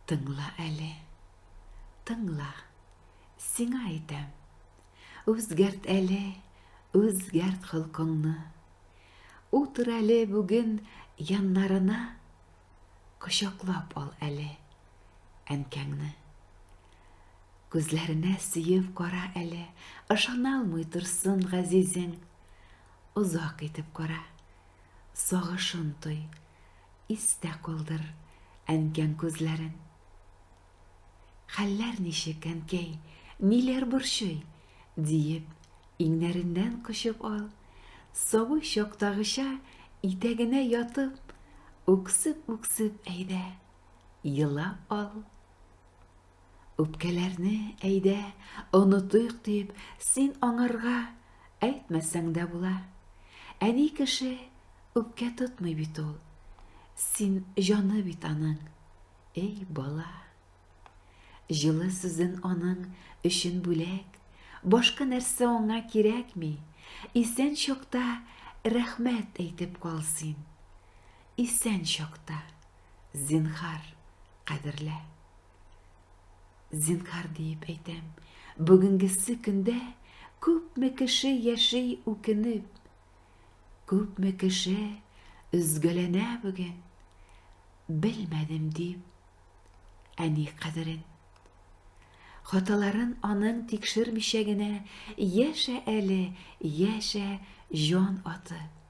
Тыңла әле, тыңла, сиңа әйтәм, Үзгәрт әле, үзгәрт холкыңны. Утыр әле бүген яннарына, Кочаклап ал әле әнкәңне. Күзләренә сөеп кара әле, Ышана алмый торсын газизең. Озак итеп кара, сагышын той, Истә калдыр әнкәң күзләрен. Хәлләр ничек, әнкәй, ниләр борчый? диеп, иңнәреннән кочып ал. Сабый чактагыча итәгенә ятып, үксеп-үксеп әйдә, елап ал. Үпкәләрне, әйдә, онытыйк дип, син аңарга әйтмәсәң дә була. Әни кеше үпкә тотмый бит ул. Син җаны бит аның. Эй, бала. Җылы сүзен аның өчен бүләк, башка нәрсә аңа кирәкми. Исән чакта рәхмәт әйтеп кал син. Исән чакта. Зинхар, кадерлә. Зинхар диеп әйтәм, бүгенгесе көндә күпме кеше яши үкенеп, күпме кеше өзгәләнә бүген, белмәдем дип, әни кадерен. Хаталарын аның тикшермичә генә яшә әле, яшә җан атып.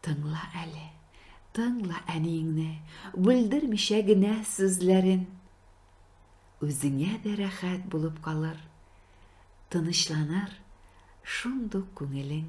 Тыңла әле, тыңла әниеңне, бүлдермичә генә сүзләрен. Үзеңә дә рәхәт булып калыр, тынычланыр шундук күңелең.